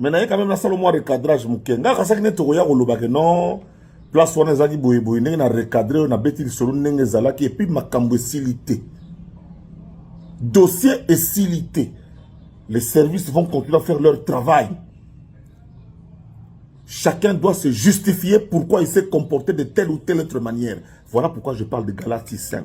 mais naye quand même nasala mwa recadrage moke ngai kasaki nde tokoya kolobake non place wana ezalaki boyeboye ndenge na recadre oyo nabeti lisolo ndenge ezalaki epuis makambo esili te dossier esili te les services vont continuer à faire leur travail chacun doit se justifier pourquoi il s'est comporté de telle ou telle autre manière voilà pourquoi je parle de galatie 5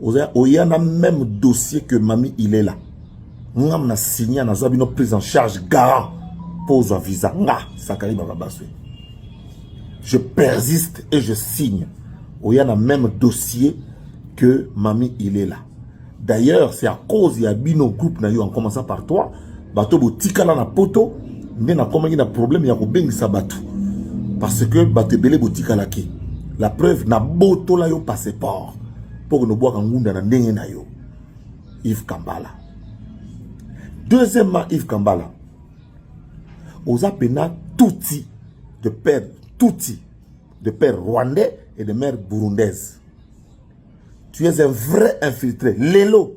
oza oya na même dossier que mami ilela ngam na signa naza bino prise en charge garant mpo ozwa visa nga sakali bababaswe je persiste et je signe oya na même dossier que mami ilela d'ailleurs c'est à cause ya bino groupe na yo en commençant par toi bato botikala na poto nde nakomaki na problème ya kobengisa bato parce que bato ebele botikalaki la preuve nabotola yo passeport mpo konobwaka ngunda na ndenge na yo Yves Kambala deuxièmement Yves Kambala oza pena tuti de père tuti de père rwandais et de mère burundaise tu es un vrai infiltré lelo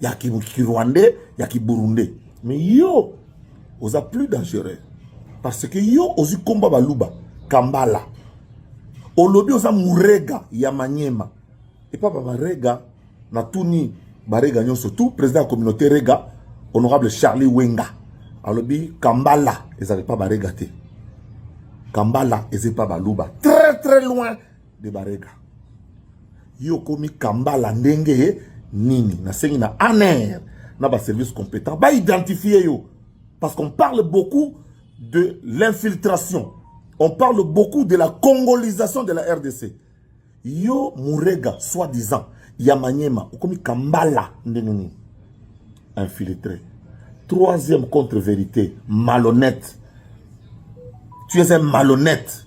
ya kirwandais ya kiburundais mais yo oza plus dangereux parce que yo ozwi komba baluba kambala olobi oza murega ya manyema epa babarega na tuni barega nyonso tout président ya communauté rega honorable charlie wenga alobi kambala ezala epa barega te kambala eza epa baluba très très loin de barega yo okomi kambala ndenge nini nasengi na aner na baservice compétent baidentifie yo parce qu'on parle beaucoup de l'infiltration on parle beaucoup de la congolisation de la rdc yo murega soit disant ya manyema okomi kambala ndenge nini infiltré troisième contre vérité malhonnête tu es un malhonnête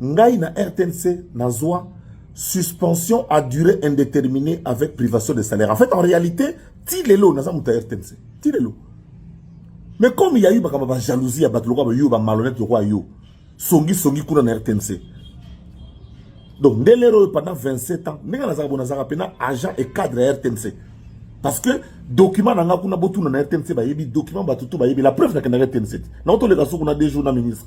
ngai na RTNC nazwa suspension à durée indéterminée avec privation de salaire. En fait, en réalité, ti lelo naza muta RTNC. Ti lelo. Mais comme il y a eu bakaba ba jalousie ya bato lokola yo ba malhonnête lokola yo. Songi songi kuna na RTNC. Donc nde lelo pendant 27 ans, ndenge nazaka bona zaka pena agent et cadre ya RTNC. Parce que document nanga kuna botuna na RTNC ba yebi document ba tutu ba yebi la preuve na kenda RTNC. Na otoleka soko na deux jours na ministre.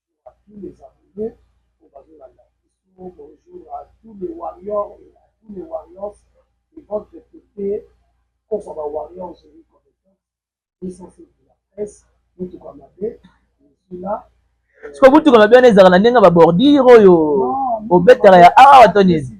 Sikoyo motuka mabe wana ezalaka na ndenge ya ba bordure oyo obetaka ya awa to nini?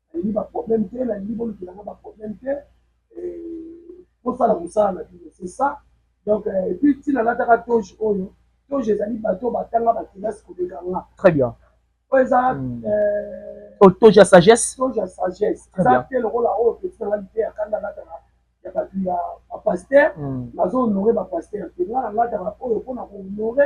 nalingi ba problème te nalingi bolukela nga ba problème te bosala mosala na bino c'est ça donc euh, epuis ntina nataka toge oyo toge ezali bato batanga bakelasi koleka nga très bien oyo eza hmm. euh, oh, toge ya sagesse toge ya sagesse eza te lokola oyo peti nanga lite ya kanda nataka ya bato ya bapaster hmm. nazo honore bapaster te nga na nataka oyo mpona kohonore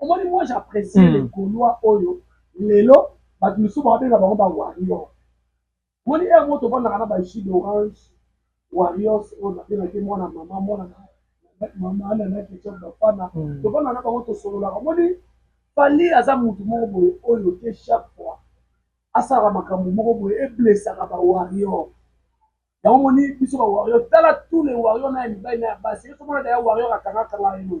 omoni moi j'apprécie mm. les gaulois oyo lelo bato mosusu babenga bango ba warrior moni heure moto ofandaka na bajus d'orange warriors oyo nabengaki mwana mama mwana mama ana na ketchup bafana mm. tofanda na bango tosololaka moni fali aza motu moko boye oyo te chaque fois asalaka makambo moko boye eblesaka ba warrior yango moni biso ba warrior tala tous les warrior na ya mibali na ya basi ye tomona daya warrior akangakanga ye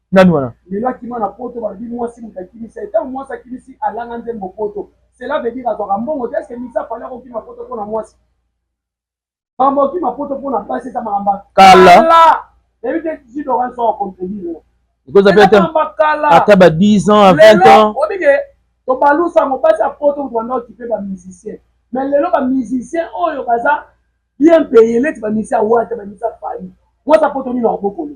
Nani wana? Lelo akima na poto balobi mwasi moto akimisa ye. Ntango mwasi akimisi alanga nzembo poto. Cela veut dire azwaka mbongo te. Est-ce que Miza fallait akokima poto mpo na mwasi? Makambo akima poto mpo na basi eza makambo kala. Yebi te ji Laurent Soro contredire. Ekoza pe ata ba 10 ans à 20 ans. Obi ke tobalusa ngo basi ya poto moto banda okipe ba musiciens. Mais lelo ba musiciens oyo baza bien paye neti ba musiciens ya Wata, ba musiciens ya Fally. Mwasi ya poto nini akobokolo?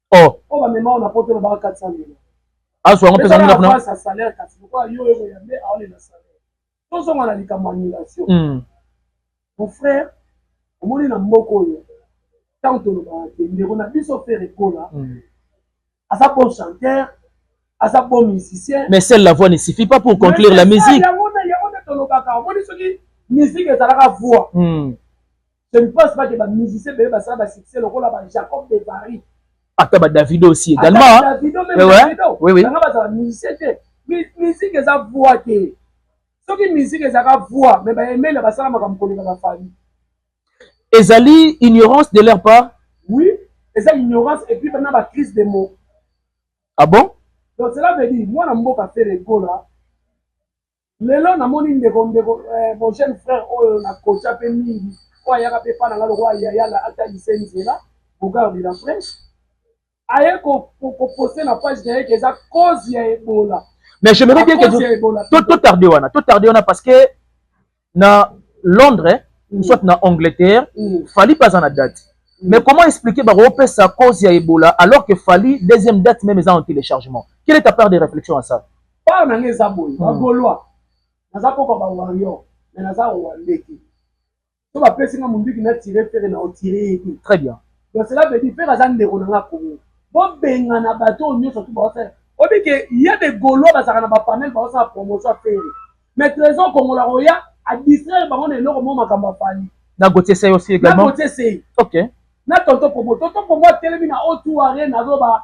oh oh ba mema na poto na ba 400 mille aso yango pesa nuna kuna sa salaire kasi ko yo yo ya me aone na salaire to zonga na likambo annulation mm. mon frère omoni na mboko oyo ntango tolobaka te ndeko na biso fere kola mm. aza bon chanteur aza bon musicien mais seule la voix ne suffit pas pour conclure la musique yango nde tolobaka omoni soki musique ezalaka voix mm. Je ne pense pas que ba musiciens bebe basala ba succès lokola ba Jacob de Paris. Ata ba Davido aussi également. Ata ba Davido même eh ouais. Davido. Oui oui. Nanga bazala musicien te. Musique eza voix te. Soki musique ezaka voix mais ba emela basala makambo koleka ba fali. Ezali ignorance de leur part. Oui, eza ignorance et puis bana ba crise de mots. Ah bon? Donc cela veut dire mwana mboka Ferre Gola lelo namoni ndeko ndeko eh, mon jeune frère oyo na kocha pe mingi oyo ayaka pe pa na nga lokola yaya na atalise nzela bogard de la fraîche aye kopose na page na ye ke eza cause ya ebola mais je me dis bien que to tarde wana to tarde wana parce que na londres mm. soit na angleterre mm. fali pas na date mm. mais comment expliquer bakopesa cause ya ebola alors que fali deuxième date même eza en téléchargement quelle est ta part de réflexion à ça Paa na nga eza boye ba golois naza koko ba warrior mais naza rwandais te so bapesi nga munduki na tire fere na otire ye te très bien donc cela veut dire fere aza ndeko na nga kongo bobengana bato oyo nyonso tu baosala obi ke ya de golois bazalaka na bapanel baosala promotion ya fere mais trésor kongola koya adistraire bango na eloko mo makambo afali na gotie sey osi egalement na gotie sey ok na tonto promo tonto promo atelemi na o2 arena azoba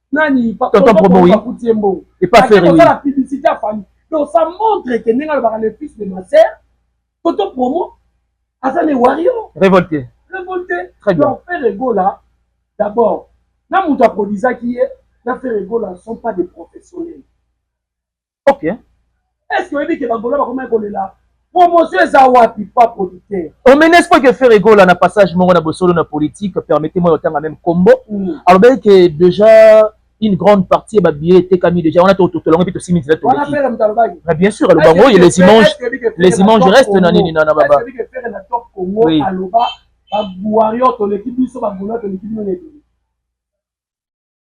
nani tonton promo oui akuti ye mbongo epa ferre oui la publicité à famille donc ça montre que ndenge alobaka le fils de ma sœur tonton promo aza ne warrior révolté révolté très bien donc ferre gola d'abord na moto aprodisaki ye na ferre gola sont pas des professionnels ok est ce que oyebi ke bagolo bakomaki kolela promotion eza wapi pa producteur omenes po ke ferre gola na passage moko na bosolo na politique permettez moi otanga meme kombo mm. alobaki ke déjà une grande partie ya babillet etekami déjà wana tolongo mpe tosimi nzela toleki mais bien sûr aloba ngo ye les images les images reste na nini na baba oui. aloba ba warrior toleki biso ba gola toleki bino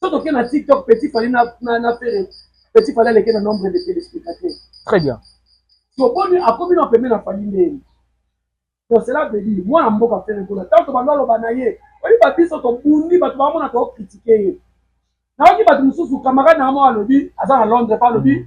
so toke na tiktok petit fali na, na, na fere petit fali aleke na nombre de téléspectateurs très bien toboni akomi na pembe na fali ndeni donc cela veut dire mwana mboka fere kuna ntango tobandi aloba na ye oyebi biso tobundi bato bamona tokokritike ye nayoki bato mosusu camarade na yango alobi aza na londres pa alobi mm.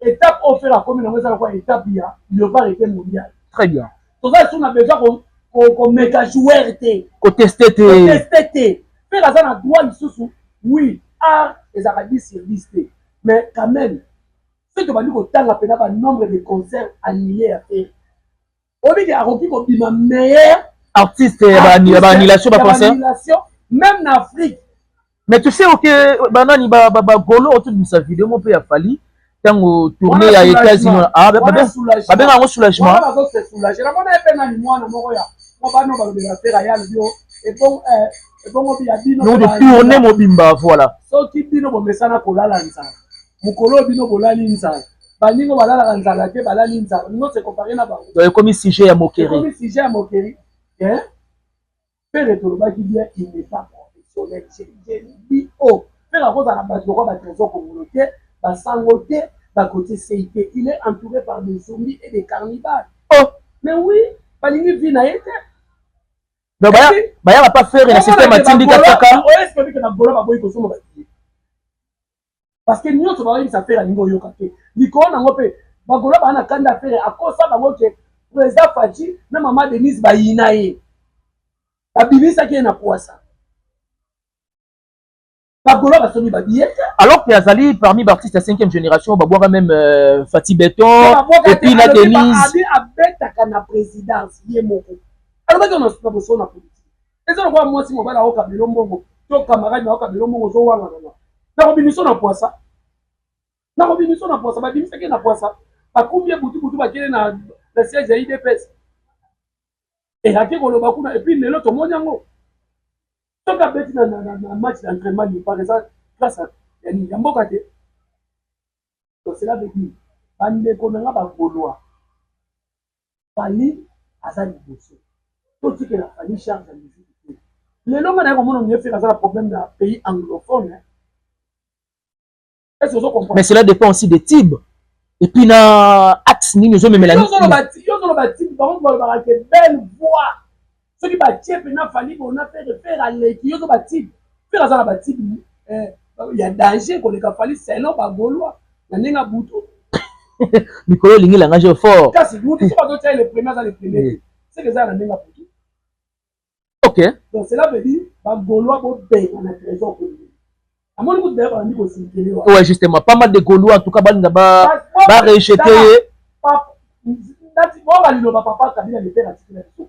Etape oyo fela akomi nango eza lokola etape ya leopard ete mondial. Très bien. Toza lisusu na besoin ko ko ko meka joueur te. Ko tester te. Ko tester te. Fela aza na droit lisusu oui art ezalaka 10 sur 10 te mais quand même soki tobandi kotanga mpena ba nombre de concert annulé ya fela Oyebi ke akoki kobima meilleur artiste ya ba ya ba annulation ba concert même na Afrique. Mais tu sais que banani ba ba ba golo otu bisa video mo pe ya Fally tango tourner ya États-Unis ah ba ba ba benga ngo soulagement. Wana bazo se soulager. Na mona pe nani mwana moko ya mo ba no ba lobela pe ya lobio et bon euh ebongo bino tourne mobimba voilà soki bino bomesana kolala nzala mokolo oyo bino bolali nzala baninga balalaka nzala te balali nzala bino se compare na bango donc ekomi sujet ya moquerie ekomi sujet ya moquerie hein pere tolobaki bien il n'est pas professionnel c'est dit oh pere akozala na bato lokola batrésor kongolo te basango te bakotie sei te il est entouré par des zombies et des carnivales oh mais oui balingi vie na ye te donc bayaka pa fere na système atindika kaka oyo eske bike na gola baboyi kosomba parce que nyonso baoyebisa fere alingi oyoka te likolo nango mpe bagola baa na kanda fere akosa bango ke président faci na mama denise bayina ye babimisaki ye na pwasa bagola basomi babiye te alors que azali parmi baartiste ya 5e génération babwaka meme euh, fati beton epuis na denise abetaka na présidence ye moko alobaki ona suka bosona politique eza lokola mwasi mobali aoka bilo mbongo to camarade na oka bilo mbongo ozowangana na nakobimiso na pwasa nakobimiso na pwasa babimisaki na pwasa bakumbi ye butubutu bakele na na siège ya idps eyaki koloba kuna epuis lelo tomoni yango soki abeti na match d'entraînement lipa eza grâce ya mboka te Donc cela veut dire ba ndeko na nga ba golois Fally aza liboso totikela Fally charge ya musique te lelo nga naye komona Mieux Ferre aza na problème na pays anglophone hein? Est-ce que ozo comprendre? Mais cela dépend aussi des tibes et puis na axe nini ozo memela nini? Yo zolo ba tibes bango balobaka que belle voix soki batie mpena fali bona fere fere aleki yo to batibe fere aza na batibe eh, ya danger koleka fali selon bagolois na ndenge ya butu mikolo olingi langa jo fort kasi mutu soki azotia le premier aza le premier eh. seke eza na ndenge ya butu ok donc cela veut dire bagolois bobenga na trésor kondeli Ouais, justement, pas mal de Gaulois, en tout cas, Balinda va rejeter.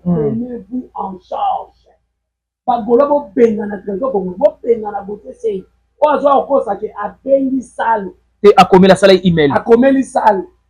Prenez-vous en charge. Bagola bobengana trésor bongo bobengana bote sei oyo azwa kokosa ke abengi sale te akomela sala email akomeli sale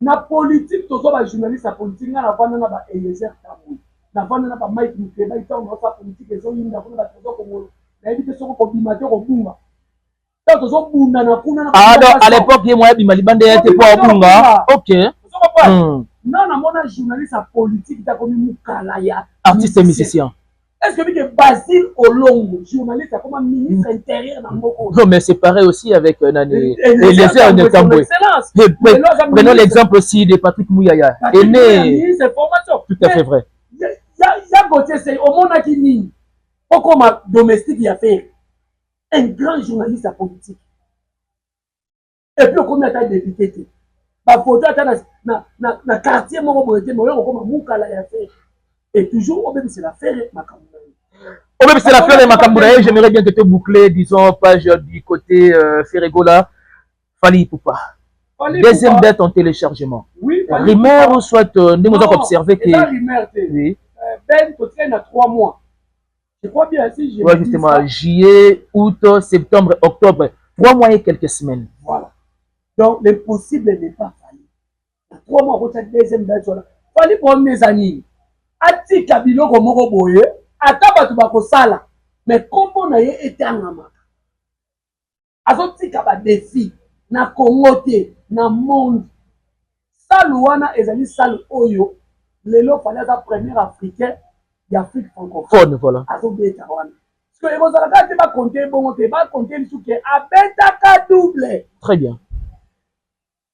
Na politique toza ba journaliste ya politique nga na vanda na ba Eliezer Tambwe na vanda na ba Mike Mukebayi tango nazo sala politique ezo yinda kuna ba trésor kongolo na yebi te soki oko bima te oko bunga tango tozo bunda na kuna na ah donc à l'époque ye moya bima libanda ya te po abunga ok hmm. na na mona journaliste ya politique ta komi mukala ya artiste musicien Est-ce que que Basile Olongo, journaliste, comme ministre mm. intérieur dans Moko Non, mais c'est pareil aussi avec euh, Nani. Eliezer Ntambwe. Prenons l'exemple aussi de Patrick Mouyaya. Aimé. Tout à fait vrai. Ya Gauthier Sey, omonaki nini okoma domestique ya Ferre un grand journaliste ya politique epuis okomi ata depute te bafoto ata na, na, na, na quartier moko boye te maoya kokoma mukala ya fere e toujours obebisela fere makambo na ye obebisela fere makambo na ye j'aimerais bien que te boucle disons page du côté euh, feregola fali ipupa deuxième date en téléchargement oui, rumeur ou soit euh, ndenge oza koobserve ke oui. Euh, ben totikali na trois mois Je crois bien si je ouais, justement ça, juillet, août, septembre, octobre, trois mois et quelques semaines. Voilà. Donc l'impossible n'est pas fallu. Trois mois kota deuxième date wana. Fali problème eza nini? Atika biloko moko boye, ata bato bakosala, mais kombo na ye etangamaka. azotika ba defi na congo te na monde salu wana ezali salu oyo lelo fali aza premier africain ya afrique francophone voilà. azobeta wana so ekozala kaka te bakonte ebongo te bakonte lisusu ke abetaka double très bien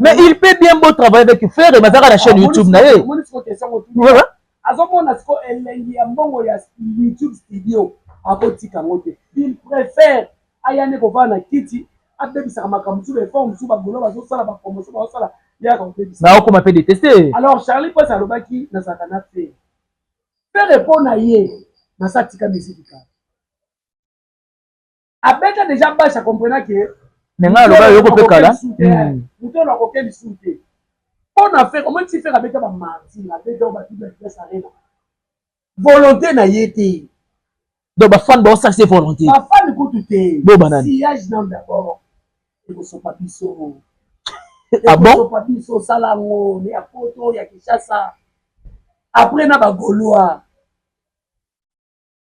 Mais il peut bien beau travailler avec Ferre, mais azaka la chaîne YouTube na ye. Azomona siko elengi ya mbongo ya YouTube studio akotika yango te. Il préfère aya nde kovanda na kiti abebisaka makambo mosusu baefort mosusu bagolo bazosala bapromotion bazosala yaka kobebisa. Na okoma mpe deteste. Alors Charlie Prince alobaki nazalaka na Ferre. Ferre mpo na ye nasa tika misiki kaka. abeta deja basi akomprena ke me ngai aloba yoko mpe kala moto oyo akoke lisusu te mpo na fere omoni ti fere abeta bamartir abeta oyo batubi adresse arena volonté na ye te donc bafane baosalisa volonté bafane kutu te bobananiyage nam dabord ekosopa biso ah ekosopa biso osala yango ya poto ya kinshasa après na bagolois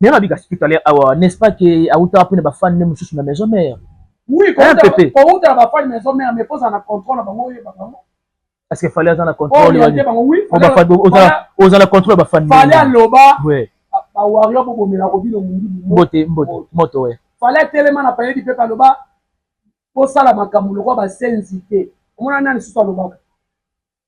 Mais ma bika tout à l'heure awa ah, n'est-ce pas que auta apune ba fan ne mususu na maison mère. Oui, ko auta ba fan maison mère mais poza na contrôle ba moye ba bango. Parce que fallait azana contrôle ba. Ko ba fan oza oza na contrôle ba fan. Fallait aloba. Oui. Ba warrior bo bomela ko bino mundi. Mbote mbote moto we. Fallait telema na payedi pe aloba. Ko sala makambo lokwa ba senzi te. Omona nani susu alobaka.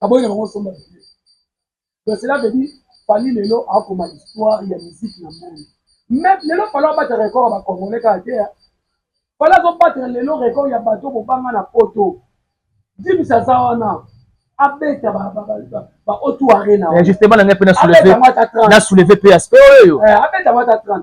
aboyi na bango osomba video donc cela veut dire fali lelo akoma histoire ya musique na monde mais lelo fali abata record ya bacongolais kaka te fali azobatela lelo record ya bato bobanga na poto dimis aza wana abeta ba otu arena justement na ngai mpe na souleve mpe aspect oyo abeta mata 30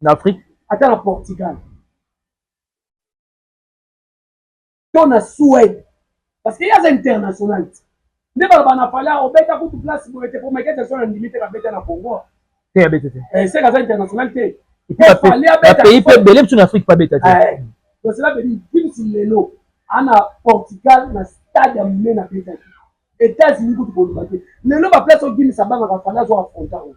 na afrique ata na portugal to na suède parce que ye aza international ti nde baloba na fale obeta kutu place boye te po michael jackson andimi te kabeta na congo te abeta te eh, seke aza international te bapays mpe ebele biso na afrique mpe abeta te tosela eh, bedi kimsi lelo ana portugal na stade ya monene abetaki etats-unis kutu koloba te lelo baplace obimisa bangaka fale azwa afronta oyo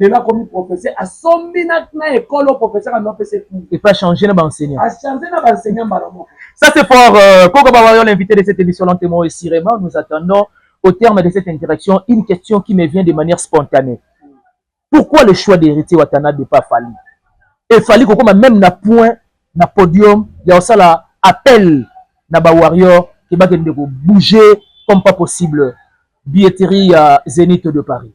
Lelo akomi professeur, asombi na na école au professeur a nopese cours. Et puis a changer na ba enseignants. A changer na ba enseignants mbala moko. Ça c'est fort. Euh, Koko Bawayo, l'invité de cette émission lentement et sirément, nous attendons au terme de cette interaction une question qui me vient de manière spontanée. Pourquoi le choix d'héritier Watana de pas Fali? Et Fali Koko m'a même na point na podium, il y a ça là appel na ba warrior qui va bouger comme pas possible. Billetterie à Zénith de Paris.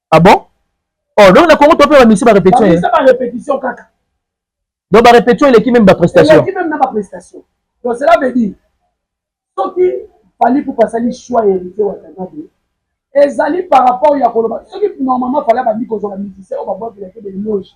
Ah bon Oh, donc na Congo to pe ba misi ba répétition. Ba misi ba répétition kaka. Donc ba répétition eleki même ba prestation. Eleki même na ba prestation. Donc cela veut dire soki Fally Ipupa asali choix ya héritier Watanabe ezali par rapport ya koloba soki normalement Fally abandi kozala musicien oyo babwakela ke beloge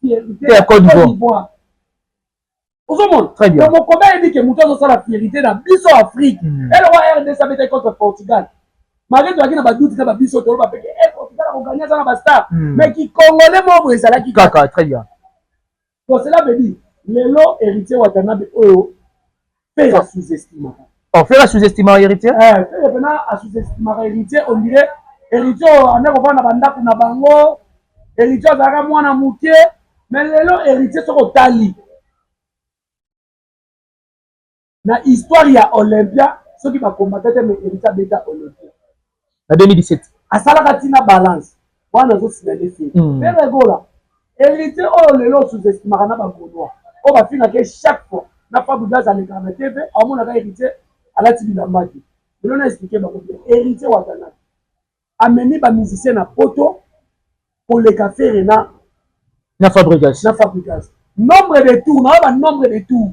te ya Cote d'Ivoire ozomona donc mokomi ayebi ke moto azosala fierité na biso afrique hmm. eloko ya rdc abetaki contre portugal malgré tozalaki na baduti na babiso toloba peke e eh, portugal akoganye aza na bastar hmm. mais kikongole moko ezalaki kaka très bien donc cela veut dire lelo héritier watanabe oyo Ferre a sous-estimaka. Oh Ferre a sous-estimaka Heritier? Eh Ferre pena a sous-estimaka Heritier on dirait Heritier oyo anda kovanda ba ndaku na bango. Heritier azalaka mwana muke mais lelo Heritier soki otali na histoire ya Olympia soki ba combattant te mais Heritier abeta Olympia. na 2017 asalaka tina balance wana azo signale fille mm. pere egola héritier oyo lelo osuzestimaka na bagolois oyo bafingaka chaque fois na fabudas alekaka na tv aomonaka héritier alati bilamba te lelo na explike bango bien héritier watanaki amemi bamusicien na poto koleka fere na na fabrigas na fabrigas nombre de tour nayo banombre de tour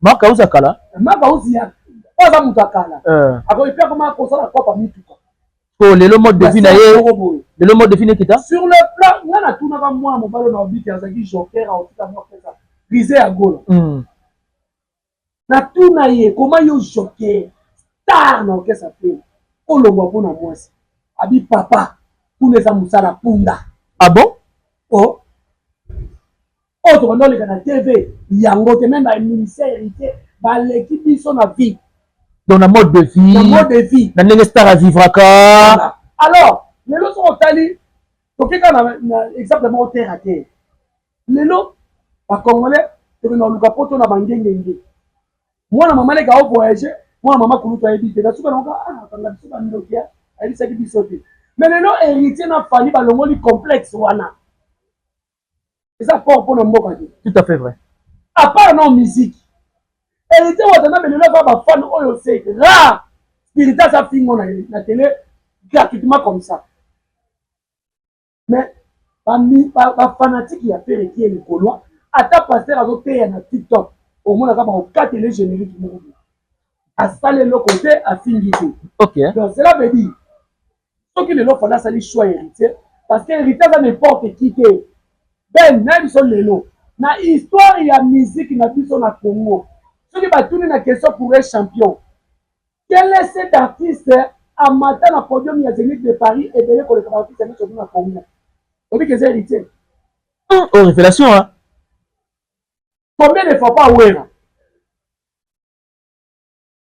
Marc auzi ya kala. Marc auzi ya oyo aza moto ya kala. Eh. Akoki pe akoma kosala kope ya mituka. To lelo mode de vie na ye. Lelo mode de vie nekita. Sur le plan nga na tuna ba mwana mobalo na obiki azaki joker a otika mwa pesa. Rize ya gola. Mm. Na tuna ye koma yo joker star na okesa pe. Olongwa mpo na mwasi. Abi papa kuna eza mosala punda. Ah bon? Oh. Oyo tokoki oleka na TV yango te meme ba ministère héritier baleki biso na vie donc na mode de vie na mode de vie na ndenge star avivraka alors lelo soki otali toke kaka na exemple moko terre à terre lelo bacongolais toke na oluka poto na bangengenge mwana mama leka ovoyage mwana mama kulutu ayebi te nasuka nango akanga ah, biso bandoki ayebisaki biso te mais lelo héritier na fali balongoli complexe wana eza fort pona mboka te tout à fait vrai à part non musique héritier wata na belelo aza ba fan oyo c'est rare spirita aza fingo na ye na tele gratuitement comme ça mais ba fanatique ya pere qui est le golois ata pasteur azoteya na tiktok omonaka bakokatele générique moko asala eloko te afingi te okay. donc cela veut dire Soki lelo Fally asali choix ya Heritier parce que Heritier aza n'importe qui te. Ben na biso lelo na histoire ya musique na biso na Congo soki batuni na question pour un champion quel est cet artiste amata na podium ya Zenith de Paris ebele koleka ba artiste nyonso na Congo obi que eza Heritier. Hum, oh révélation hein. Combien de fois pas Wera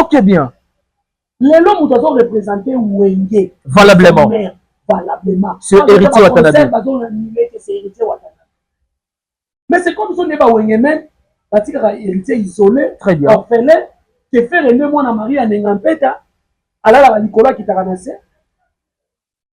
Ok bien. lelo moto azo represente wenge valablement valablement c'est héritier watanabe bazo nime que c'est héritier watanabe mais c'est comme biso nde bawenge meme batikaka héritier isolé très bien orphelin tefere nde mwana marie anenga mpeta alalaka likolo akitaka na se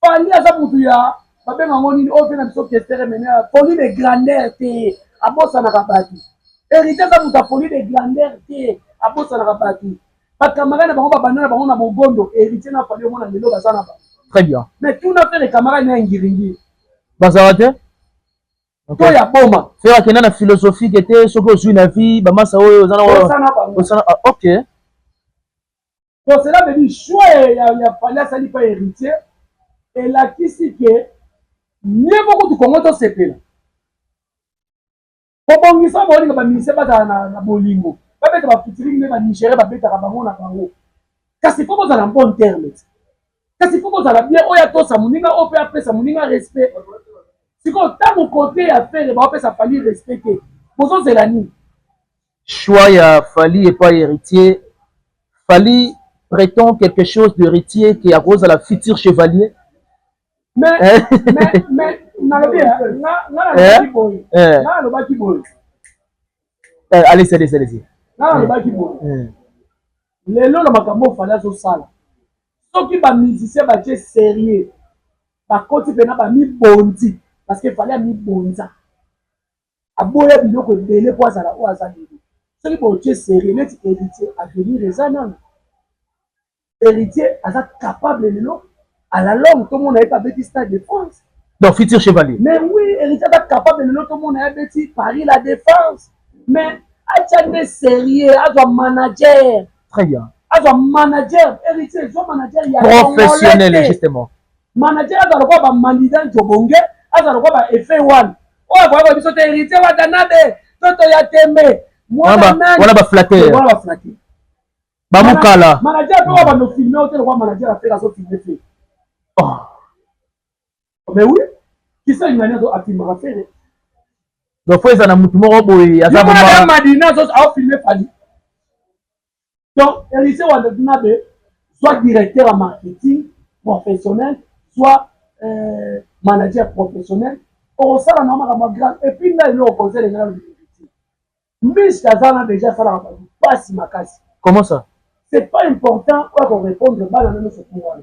Fally aza mutu ya babenga ngo nini oyo tena biso kestere mene ya folie de grandeur te abosanaka bato hérité aza moto ya folie de grandeur te abosanaka bato bacamarade na bango babanda na bango na mogondo hérité na fally omona lelo baza na bango très bien mais tuna fere camarade na ya ngiringiri bazala te to ya boma fere akenda na philosophique te soki ozwi na vie bamasa oyo oza na oyo osana bango ah, ok Donc cela veut dire choix ya, ya Fally asali pa héritier elakisi ke nye moko tu Congo tosepela kobongisa bolinga bamise bazala na, na bolingo babeta bafitilingi nde banigere babetaka bango na bango kasi fo bozala bon terme kasi fo bozala bien oyo atosa moninga oyo mpe apesa moninga respect sikoyo ntango kote ya fere baopesa fali respect te bozozela nini Choix ya Fally epayi Heritier, Fally pretend quelque chose de Heritier que akozala futur chevalier mais mais mais nalobi nga nalobaki boye nga nalobaki boye allez allez allez nga nalobaki boye lelo na makambo Fally azosala soki ba musiciens batie serieux bakoti mpena bamibonzi parce que Fally amibonza aboya biloko ebele po azala oyo aza lelo soki botie serie neti heritier avenir eza nanu heritier aza capable lelo ala longue tomona ye pe abeti stade de france donc futur chevalier mais oui héritier aza capable lelo tomona ye abeti paris la défense mais atia nde serie azwa manager très bien azwa manager héritier zwa manager ya professionnel justement Manager aza lokola ba Manida Njobonge, aza lokola ba Efe One. Oyo akoya ko biso te Heritier Watanabe, Toto ya Tembe, mwana nani. Wana ba flatteur. Wana ba flatteur. Ba mukala. Manager pe ba no filmer ote lokola manager afela azo filmer fe. Oh. Mais oui, qui ça il m'a a filmer afela. Hein. Donc faut eza na mutu moko boye aza vraiment. Madina azo a filmer Fally. Donc Elisee Wadatinabe soit directeur en marketing professionnel, soit euh, manager professionnel, okosala na makambo ya grave epuis ngai eloko conseil elingi nalobi victime miske aza na deja asalaka bato mpasi makasi comment ça c'est pas important oya korépondre bana na nyonso mpo wana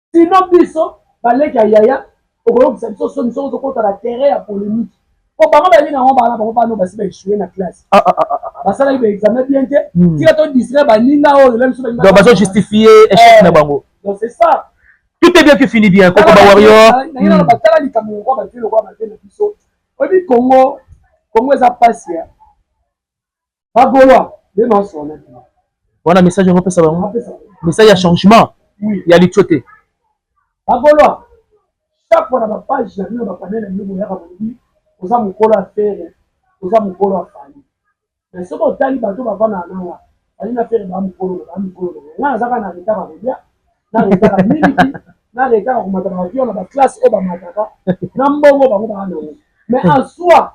sinon biso baleki ya yaya okoyokisa biso soni soki ozokota na terrain ya polemique po bango bayebi nango bana bango bana basi baesue na classe ah, ah, ah, basalaki baexamen bien te hmm. tika to distraire baninga oyo la biso baninga bazo justifie échec eh, na bango donc c'est ça tout est bien qui finit bien koko ba warrior nayina batala likambo lokwa batie lokwa batie na biso oyebi congo congo eza pasi ya Ba Golois, les noms sont là. Wana message yango pesa bango. Message ya changement. Oui. Ya litio te. Ba Golois, chaque fois na ba page ya bino ba panel na bino boyaka bobi oza mokolo ya fere, oza mokolo ya fali. Mais soki otali bato bavanda na nanga, fali na fere ba mokolo, ba mokolo. Nga nazaka na retard ya kolia, na retard ya miliki, na retard ya komata na avion na ba classe oyo bamataka, na mbongo bango baa nango. Mais en soi,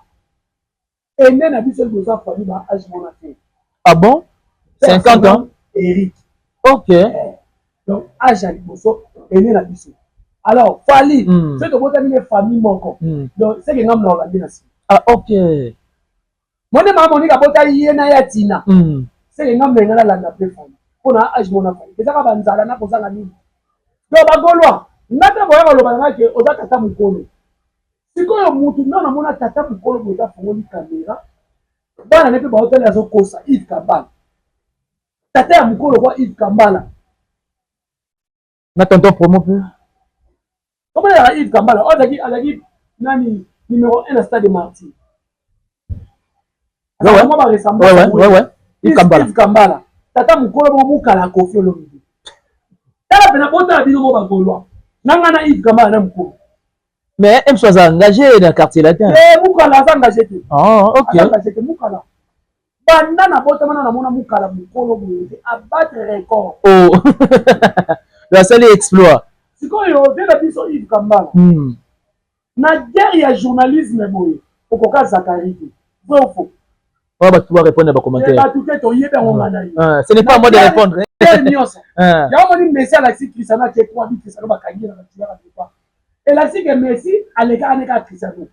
Ene na biso toza famille ba age mona te. Ah bon? 50 ans? Eric. OK. Eh, donc age ya liboso ene na biso. Alors Fally, mm. soki tobotami ne famille moko. Mm. Donc seke ngambo na olandi na sima. Ah OK. Mone mama Monica abota ye na ya Tina. Mm. Seke ngambo na ngala landa pe Fally. Pona age mona Fally. Ezaka banzala na kozanga nini? Donc bagolwa, ngata boya baloba na ke oza tata mukolo. Sikoyo mutu nga namona tata mukolo boye afongoli camera bana ne pe baotali azokosa Yves Kambala tata ya mukolo kwa Yves Kambala na tonton promo pe okola ya Yves Kambala ozaki azaki nani numero 1 na stade Martyr azaka mwa ba ressemblance Yves Kambala tata mukolo bo mukala Koffi Olomide tala pena botala bino mo ba Gaulois nanga na Yves Kambala na mukolo Mais Emso aza engagé na quartier latin. Eh Mukala aza engagé te. Ah ok. Aza engagé te Mukala. Banda na bota mana na mona Mukala mukolo boye a battre record. Oh. La salle exploit. Sikoyo de la biso Yves Kambala. Hmm. Na guerre ya journalisme boye okoka Zachary te. Vrai ou faux? Wana batu ba répondre ba commentaire. Eh, batu te to yebi yango nga na ye. Ah, ce n'est pas moi de répondre. Quel nionso. Ah. Ya moni Messi alakisi Cristiano ake kwa bi Cristiano bakangi na batu ya ba. Elakisi ke Messi aleka aneka Cristiano.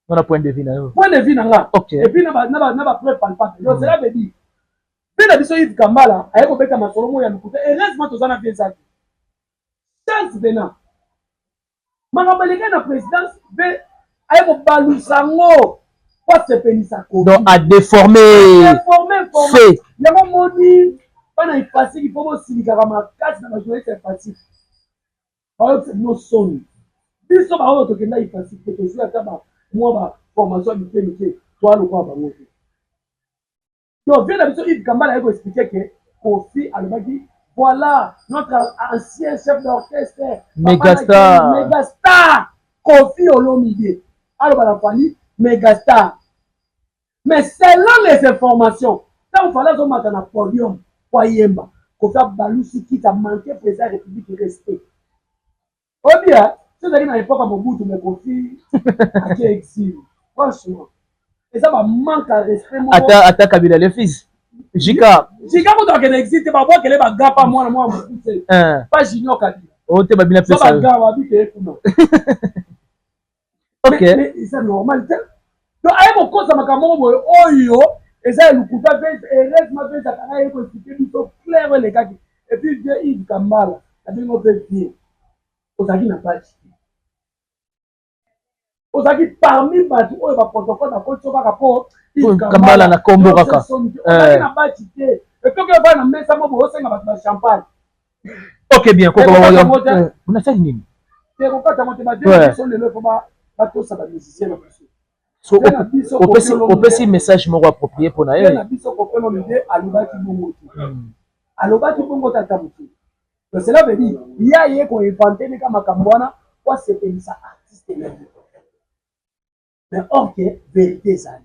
Wana point de vue na yo. Point de vue na nga. Okay. Et puis na ba na ba na ba preuve palpable. Yo cela veut dire. Pe na biso Yves Kambala aye ko beta masolo mo ya lokuta. Heureusement tozana bien zaki. Chance venant. Makambo elekaki na presidence mpe aye kobalusa yango mpo asepelisa kofi. Donc a deforme fait. Yango omoni bana Ifasik il faut bosilikaka makasi na bajournaliste ya Ifasik. Bayokisa bino soni. Biso baoyo tokenda Ifasik te tozwi ata ba mwa ba formation ya mike mike toya lokola bango te. Donc vieux na biso Yves Kambala aye ko expliquer que Kofi alobaki voilà notre ancien chef d'orchestre Megastar Megastar Kofi Olomide aloba na Fally Megastar mais selon les informations ntango Fally azomata na podium po ayemba Kofi abalusi kiti amanke mpenza République respect Obia, soki ezalaki na epoque ya Mobutu mais Koffi atie exil. Franchement, eza ba manque à respect moko. Ata ata Kabila le fils. Jika. Jika ko tokende exil te ba bwa kele ba gapa mwana mwa Mobutu. Pas Junior Kabila. Oh te ba bina pesa. Ba gapa bite kuna. Ok. Mais, mais eza normal te. Donc aye kokosa makambo moko boye oyo eza ya lokuta mpe heureusement mpe ezakaka ye koexplike biso clair oyo elekaki et puis vieux Yves Kambala nabengi yo mpe vieux ozalaki na page te ozalaki parmi bato oyo baprotocole bakoti yo kaka mpo Yves Kambala na kombo kaka soki ozalaki na page te etoki obana na mesa moko bosenga bato ba champagne ok bien koko nasali nini opesi message moko approprié mpo na ye alobaki bongo tata moke donc cela veut dire ye aye koinvente neka makambo wana po asepelisa artiste na ye mais or ke verité ezali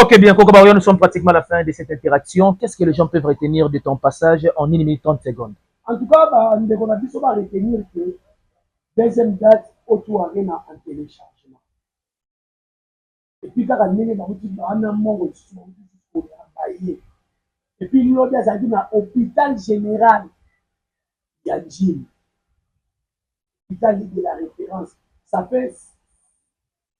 Ok bien Koko Baoyo, nous sommes pratiquement à la fin de cette interaction. Qu'est-ce que les gens peuvent retenir de ton passage en 1 minute 30 secondes? En tout cas, ba ndeko na biso ba retenir que deuxième date otu arena en téléchargement. Et puis kaka ndenge ba kuti ba na mongo lisusu ba kuti ko ya baye. Et puis lodi azalaki na hôpital général ya Njili. Hôpital de la référence. Ça fait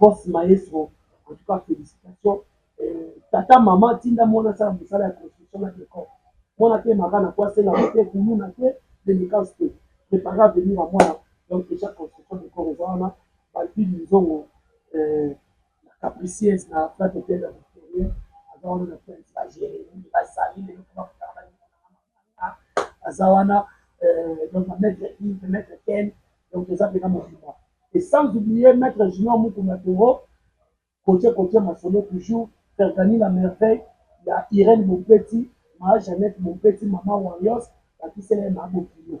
Boss maestro en tout cas felicitation tata maman tinda muana asala musala ya construction na decor muana atemaka na po asenga ba te kuluna te delicance te prepare avenir ya muana donc dejà construction decor eza wana ba bibi nzongo la capricieuse na frat ependa victoria aza wana na prince ba jeremie ba sali lelo po bakutana ba ndeko na nga. aza wana euh, donc maître ive maître ken donc toza mpena mobimba et sans oublier maître junior mukuna toro kotie kotie masolo toujours fergani la merveille ya irene mopeti maa jeannette mopeti mama warios bakisela ye maa bokilo